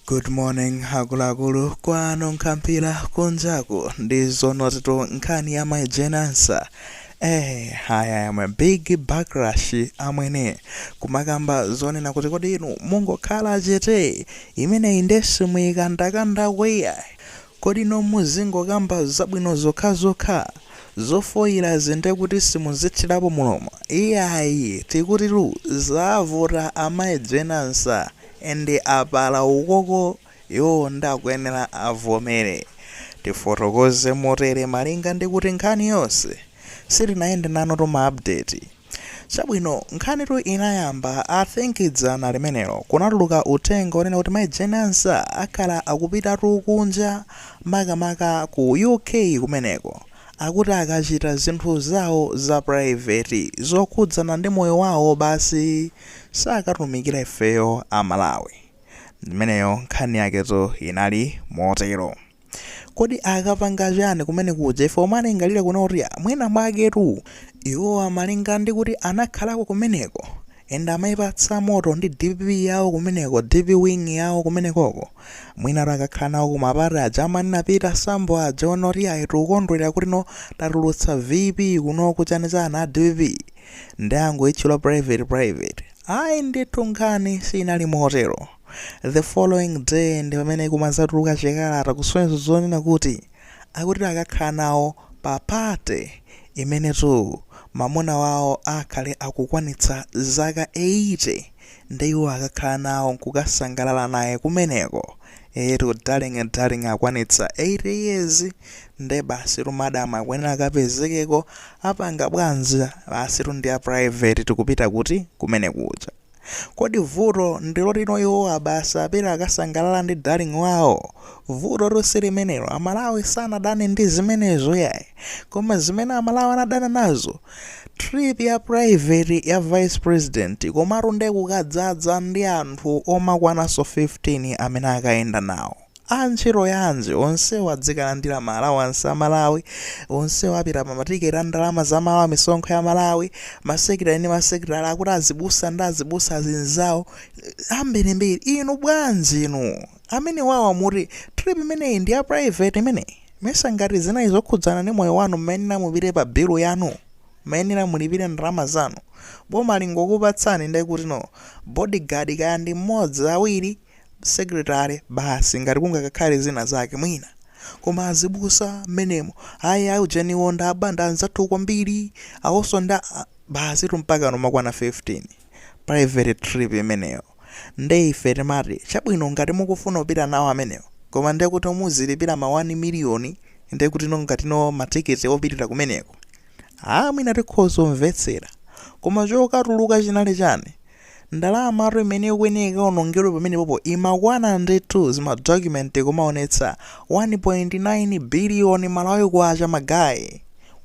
Good morning akuluakulu kwanunkha mphira kunjaku ndi zoonatitu nkhani ya mai Jane Ansah eh ayi yamwa big backlash amwene kumakamba zonena kuti kodi inu mungokhala chete imeneyi nde simuyikandakanda iyayi kodi inu muzingokamba zabwino zokhazokha zofoyira nde kuti simuzithirapo mulomo iyayi tikutitu zavuta amayi Jane Ansah Ende apalamula uko iwowo nde akuyenera avomere. Tifotokoze motere malinga ndi kuti nkhani yonse sitinayende nanutu ma update. Chabwino nkhanitu inayamba I think dzana limenelo kunatuluka uthenga onena kuti mai Jane Ansah akhale akupitatu kunja makamaka ku UK kumeneko akuti akachita zinthu zawo za private zokhudzana ndi moyo wawo basi. sakatumikira ifeyo a Malawi. Ndi imeneyo nkhani yaketu inali motero. Kodi akapanga chani kumene kuja ife kumalingalira kuno kuti mwina mwaketu iwowa amalinga ndi kuti anakhalako kumeneko and amaipatsa moto ndi dpp yawo kumeneko dp wing yawo kumenekoko mwinatu akakhala nawo kumapati aja amanena a Peter Sambo aja onoti ayi tikukondwera kuti no tatulutsa vp kuno kuchani chani a dpp Nde angoitchula private private. Ayi ndithu nkhani siinali motero. The following day ndi pamene kumadzatuluka chikalata kusonyeza zonena kuti akuti akakhala nawo pa party yomwetu mamuna wawo akhale akukwanitsa zaka 80 nde iwo akakhala nawo nkukasangalala naye kumeneko. Eetu darling and darling akwanitsa 80 years nde basitu madam akuyenera akapezekeko apanga bwanji, basitu ndi ya private tikupita kuti? kumene kuja. Kodi vuto ndi loti no iwowa basi apita akasangalala ndi darling wawo? Vutotu silimenelo amalawi sanadane ndi zimenezo yayi koma zimene amalawi anadana nazo Trip ya private ya vice president komatu nde kukadzadza ndi anthu omakwananso 15 amene akayenda nawo. A ntchito yanji onsewo adzikalandira ma allowance a aMalawi, onsewo apita pa ma ticket a ndalama za aMalawi misonkho ya aMalawi, ma secretary ndi ma secretary akuti azibusa ndi azibusa azinzawo ambirimbiri. Inu bwanji inu? amenewawa muti trip imeneyi ndi ya private imeneyi mesa ngati zinali zokhudzana ndi moyo wanu mmayenera mupite pa bill yanu mmayenera mulipire ndalama zanu boma lingokupatsani nde ndikuti no bodyguard kaya ndi mmodzi awiri secretary basi ngati kungakakhale zina zake mwina koma azibusa mmenemo ayi ayi ujeniwo ndi abanda anzathu kwambiri awonso ndi a basitu mpakana kumakwana 15 private trip imeneyo Nde ife timati chabwino ngati mukufuna kupita nawo amenewo koma ndekuti omwe muzilipira ma 1 million ndekutino ngatino ma ticket opitira kumeneko aah mwina tikhoza kumvetsera koma chokatuluka chinali chani? Ndalamatu imene ikuyenera ikaonongedwe pamenepopo imakwana ndithu ma document zikumaonetsa 1.9 billion Malawi Kwacha ma guys!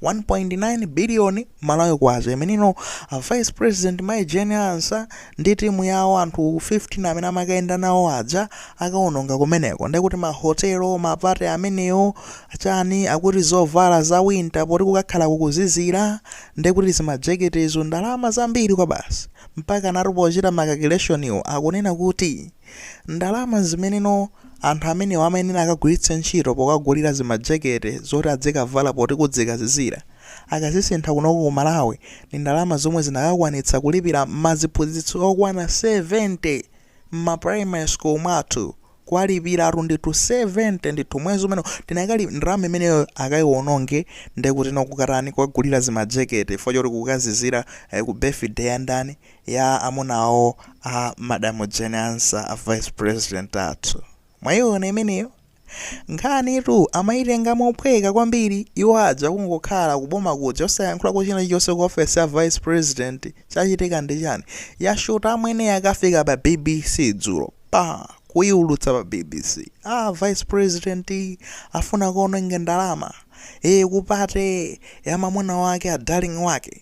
1.9 billion malawi kwacha imeneno a vice president mai jane ansa ndi timu yawo anthu 15 amene amakayenda nawo aja akaononga kumeneko ndekuti mahotelo mapate amenewo chani akuti zovala za winter poti kukakhala kukuzizira ndekuti zimajeketezo ndalama zambiri kwabasi mpaka ena atati pochita makalkulationiwo akunena kuti ndalama zimeneno Anthu amenewa amayenera akagwiritse ntchito pokagulira zimajekete zoti adzikavala poti kudzikazizira. Akazisintha kunoko ku Malawi ndi ndalama zomwe zinakakwanitsa kulipira maziphunzitsi okwana 70 mma primary school mwathu. Kuwalipiratu ndithu 70 ndithu mwezi umenewo koma ndalama imeneyoyo akaiwononge ndekutino kukatani kukagulira zimajekete chifukwa choti kukazizira ku birthday ya ndani? ya amuna awo a madam Jane Ansah a vice president athu. Mwaiona imeneyo? Nkhanitu amaitenga mophweka kwambiri iwo aja kungokhala ku boma kuja osayankhulako china chilichonse ku office ya vice president. Chachitika ndi chani? Yashuta amwene yakafika pa bbc dzulo. Pa! Kuiulutsa pa bbc. Ah vice president afuna akaononge ndalama. Ee kupate ya mamuna wake a darling wake.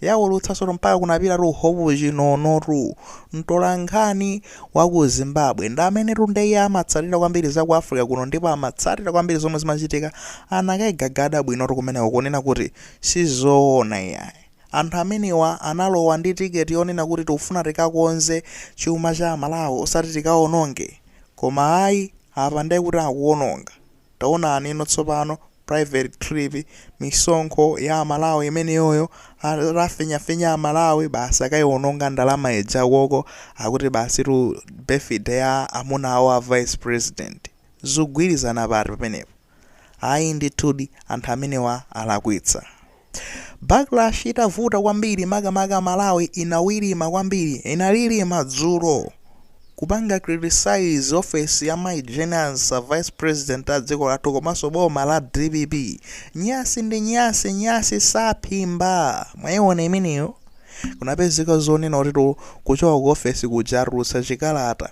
Yaulutsidwanso tu mpaka kunapita tu Hope Chinono tu, mtolankhani wa ku Zimbabwe. Ndi amene tu nde iye amatsatira kwambiri za ku Africa kuno ndipo amatsatira kwambiri zomwe zimachitika. Anakaigagada bwino tu kumeneko kunena kuti si zoona iyayi. Anthu amenewa analowa ndi ticket yonena kuti tikufuna tikakonze chuma cha aMalawi osati tikaononge. Koma ayi, apa nde kuti akuononga. Taonanino tsopano private trip misonkho ya amalawi imeneyoyo atafinyafinya amalawi basi akaiononge ndalama ija koko akuti basitu birthday ya amuna awo a vice president zikugwirizana pati pamenepo ayi ndithudi anthu amenewa alakwitsa. Backlash itavuta kwambiri makamaka Malawi inawirima kwambiri inalilima dzulo kupanga criticize office ya Mai Jane Ansah a vice president a dziko lathu komanso boma la dpp nyasi ndi nyasi nyasi saphimba mwaiona imeneyo kunapezeka zonena kutino kuchoka ku office kuja atulutsa chikalata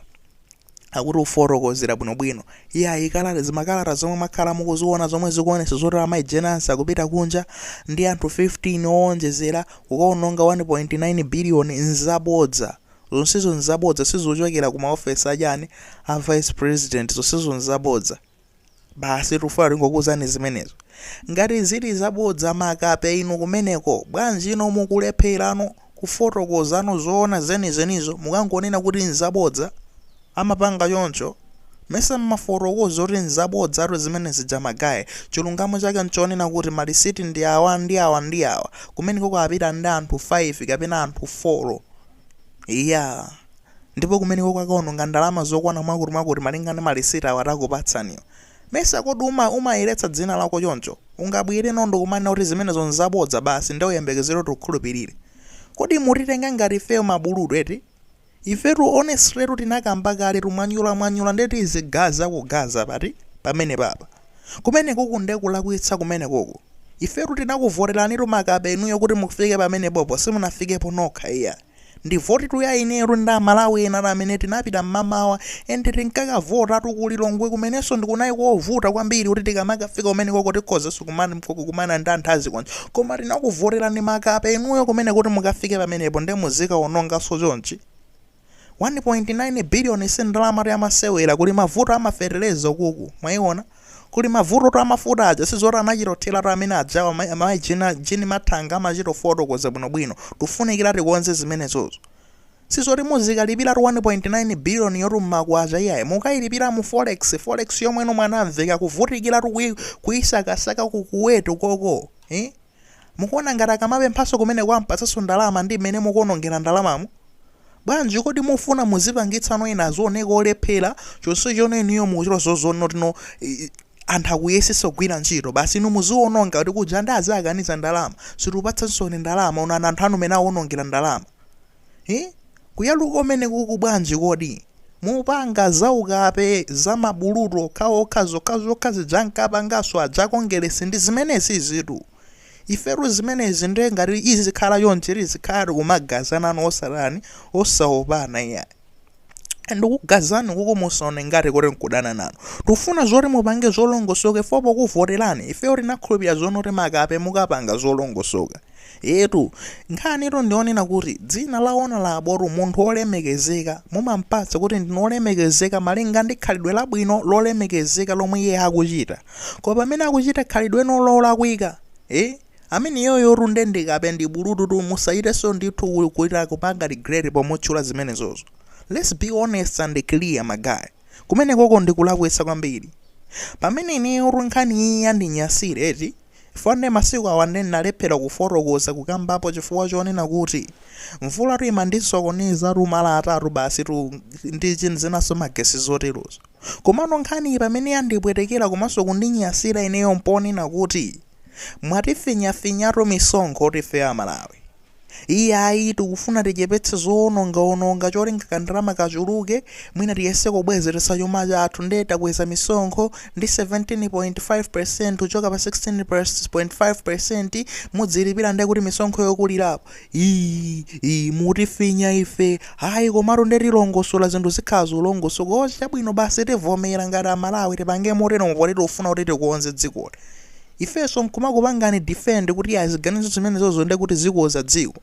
akuti afotokozera bwinobwino iyayi kalata zimakalata zomwe mwakhala mukuziona zomwe zikuonesa zoti amayi Jane Ansah akupita kunja ndi anthu 15 owonjezera kukaononga 1.9 billion nzabodza zonsezo nzabodza sizikuchokera ku maofesi achani a vice president zonsezo nzabodza. Basi tufuna tingokuuzani zimenezo. Ngati zili zabodza makape inu kumeneko, bwanjino mukulephera no kufotokoza no zoona zenizenizo mukungonena kuti nzabodza? Amapanga choncho? Mesa mmafotokoza kuti nzabodzatu zimene zija magaye, chilungamo chake nchonena kuti malisiti ndi awa ndi awa ndi awa, kumeneko akapita ndi anthu 5 kapena anthu 4. Iyaa! Ndipo kumeneko akaononga ndalama zokwana mwakutimwakuti malinga ndi malisiti awa takupatsaniwa. Mesa kodi umayeretsa dzina lako choncho? Ungabwere no nkumanena kuti zimenezo nzabodza basi nde uyembekezere kuti ukhulupirire? Kodi mutitenga ngati ifeyo mabulutu eti? Ifetu honestly tu tinakamba kaletu mwanyulamwanyula nde tizigaza kugaza pati pamenepapa? Kumenekuku nde kulakwitsa kumenekuku. Ifetu tinakuvoteranitu makape inuyo kuti mufike pamenepopo simunafikepo nokha iya. Ndi votitu ya ineyotu ndi a Malawi enatu amene tinapita mmamawa and tinkakavotatu ku Lilongwe kumenenso nde kunali kovuta kwambiri kuti tikamakafika kumenekoko tikhozaso kumakumana ndi anthu azikoni koma tinakuvoterani makape inuyo kumene kuti mukafike pamenepo nde muzikaonongaso chonchi? 1.9 billion si ndalama tu yamasewera kuli mavuto a mafertilizer ukuku mwaiona kuli mavuto tu amafuta aja sizoti anachitothera tu amene ajawa mai Jean Mathanga amachitofotokoza bwinobwino tufunikira tikonze zimenezozo sizoti muzikalipira tu 1.9 billion yotu mmakwacha iyayi mukailipira mu forex forex yomweno Mwanamvekha akuvutikira tu kui- kuisakasaka ku kuweti koko eh? Mukuona ngati akamapemphanso kumeneko ampatsanso ndalama ndi mmene mukuonongera ndalamamu? Bwanji kodi mufuna muzipangitsa no ena azioneka olephera chonsecho inuyo mukuchita zozo zonoti no anthu akuyesesa kugwira ntchito basi inu muziononga kuti kunja nde aziakaniza ndalama sitiupatsanso ni ndalama onani anthu anu mene awonongera ndalama. Hi? Kuyaluka umeneku uku bwanji kodi? Mupanga zaukape za ma bulutu okhaokha zokhazokha zija ankapanganso aja a Kongeresi ndi zimenezizitu. Ifetu zimenezi ndiye ngati izikhala chonchi tizikhala tikumagazana no osatani, osaopana iyayi. ndikugazani kuku musaone ngati kuti nkudana nanu tufuna zoti mupange zolongosoka ife pokuvoterani ifeyo tinakhulupira zonoti makape mukapanga zolongosoka etu nkhanitu ndionena kuti dzina la honourable tu munthu wolemekezeka mumampatsa kuti ndinu wolemekezeka malinga ndi khalidwe labwino lolemekezeka lomwe iye akuchita koma pamene akuchita khalidwe nolo lakwika e Ameneyoyotu nde ndi kape ndi bulutututu musachitenso ndithu kuchita kupanga regret pomutchula zimenezozo let's be honest and clear ma guy kumenekoko ndi kulakwitsa kwambiri pamene ineyotu nkhaniyi yandinyasira eti chifukwa nde masiku awa nde ndinalephera kufotokoza kukambapo chifukwa chonena kuti mvulatu imandisokonezatu mala atatu basitu ndi zinanso magesi zoterozo. Komano nkhaniyi pamene yandipwetekera komanso kundinyasira ineyo mponena kuti mwatifinyafinyatu misonkho ife a Malawi. Iyayi tikufuna tichepetse zowonongaononga cholinga ka ndalama kachuluke mwina tiyese kubwezeretsa chuma chathu nde takweza misonkho ndi 17.5% kuchoka pa 16.5% mudzilipira ndekuti misonkho yokulirapo Ii mutifinya ife ayi komatu nde tilongosola zinthu zikhala zolongosoka kozi chabwino basi tivomera ngati amalawi tipange moteromo poti tikufuna kuti tikonze dzikoli ifenso nkumakupangani defend kuti ya ziganizo zimenezozo nde kuti zikonza dziko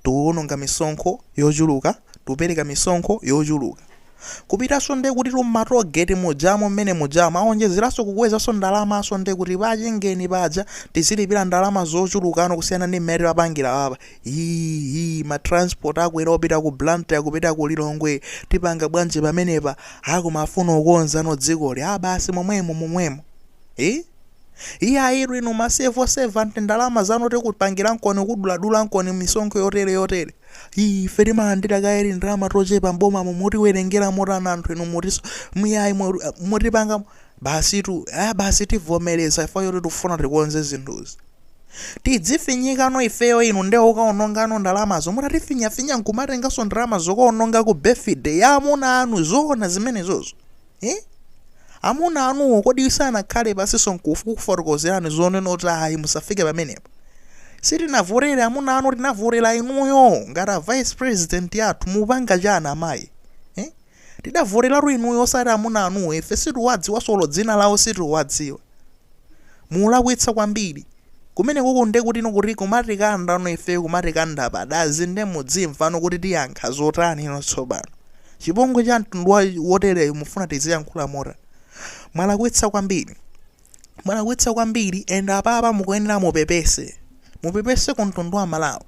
tikuononga misonkho yochuluka tikupereka misonkho yochuluka kupitanso nde kutitu mma toll gate mujamo mmene mujamo awonjezeranso kukwezanso ndalamanso nde kuti pa chingeni paja tizilipira ndalama zochulukano kusiyana ndi mmene timapangira apa ii ma transport akwera opita ku Blantyre kupita ku Lilongwe tipanga bwanji pamenepa a koma afuna kukonzano dzikoli a basi momwemo momwemo Eh? Iya iru inu masevo sevanti ndalama zanu tikupangira nkoni kuduladula nkoni misonkho yotere yotere. Iyi ife timalandira kale ndalama tochepa mbomamu mutiwerengera motana anthu inu mutiso muyayi mutipanga basi tu ah basi tivomereza ife poti tikufuna tikonze zinthuzi. tidzifinyikano ifeyo inu nde ukaonongano ndalamazo mutatifinyafinya nkumatenganso ndalama zokaononga ku birthday ya amuna anu zoona zimenezozo Eh? Amuna anuwo kodi sanakhale pansinso nkukufotokozerani zonena kuti ayi musafike pamenepo? Sitinavotele amuna anu tinavotela inuyo ngati a vice president athu mupanga chiyani amayi? Eh? Tidavotelatu inuyo osati amuna anuwo ife sitiwadziwanso olo dzina lawo sitiwadziwa. Mulakwitsa kwambiri. Kumenekoko nde kutinokola kumatikandano ifeyo kumatikanda padazi nde mudzimvano kuti tiyankha zotanino tsopano. Chipongwe cha mtundu wa wotereyu mufuna tiziyankhula motani? Mwalakwitsa kwambiri. Mwalakwitsa kwambiri and apapa mukuyenera mupepese. Mupepese ku mtundu wa Malawi.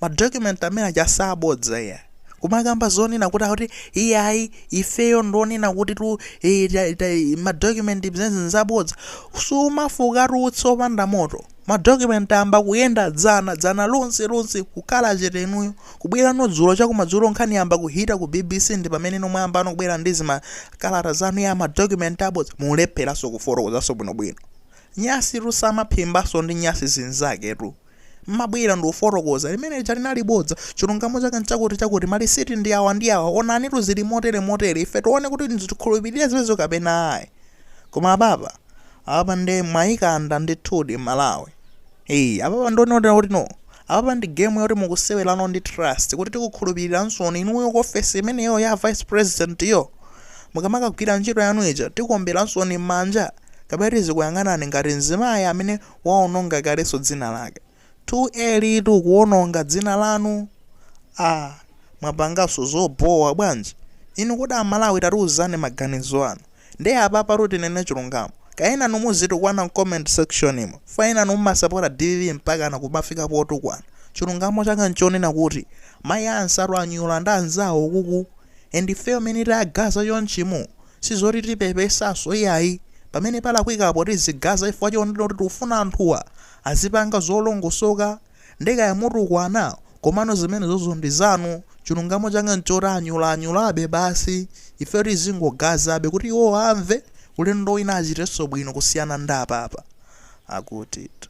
ma document amene aja zabodza iya kumakamba zonena kuti akuti iyayi ifeyo ndonena kuti tu eh, ta- ta- ma document zezi nzabodza sumafukatu utsi opanda moto ma document amba kuyenda dzana dzana lonse lonse kukhala chete inuyo kubwerano dzulo chakumadzulo nkhani yayamba kuhita ku bbc ndi pamene no mwayambano kubwera ndi zimakalata zanu ya ma document abodza mulepheranso kufotokozanso bwinobwino nyasitu samaphimbanso ndi nyasi zinzaketu mmabwera ndikufotokoza, limene lija linali bodza, chilungamo chake nchakuti chakuti, malisiti ndi awa ndi awa, onanitu zili motere motere, ife tione kuti tikhulupirire zimenezo kapena ayi. Koma apapa, apapa nde mwayikanda ndithudi Malawi. Eee, apapa ndionera kuti no, apapa ndi game yoti mukusewerano ndi trust, kuti tikukhulupirilansoni inuyo ku ofesi imeneyo ya vice president yo, mukamakagwira ntchito yanu ija, tikuomberansoni mmanja, kapena tizikuyang'anani ngati mzimayi amene waononga kalenso dzina lake. Too early kuononga dzina lanu? Aaa mwapanganso zobhowa bwanji inu kodi a Malawi tatiuzani maganizo anu nde apapatu tinene chilungamo kaya enanu muzitukwana mcomment section mo chifukwa enanu mumasapota dpp mpakana kumafika potukwana chilungamo chake nchonena kuti mai Ansah anyula ndi anzawo kuku and ifeyo mene tayagaza chonchi mu Sizoti tipepesanso iyayi, pamene palakwikapo tizigaza chifukwa chonena kuti tikufuna anthuwa azipanga zolongosoka, nde kaya mutukwana komano zimenezozo ndi zanu, chilungamo chake nchoti anyulaanyulabe basi, ifeyo tizingogazabe kuti iwowo amve, ulendo wina achitenso bwino kusiyana ndi apapa. Akutitu.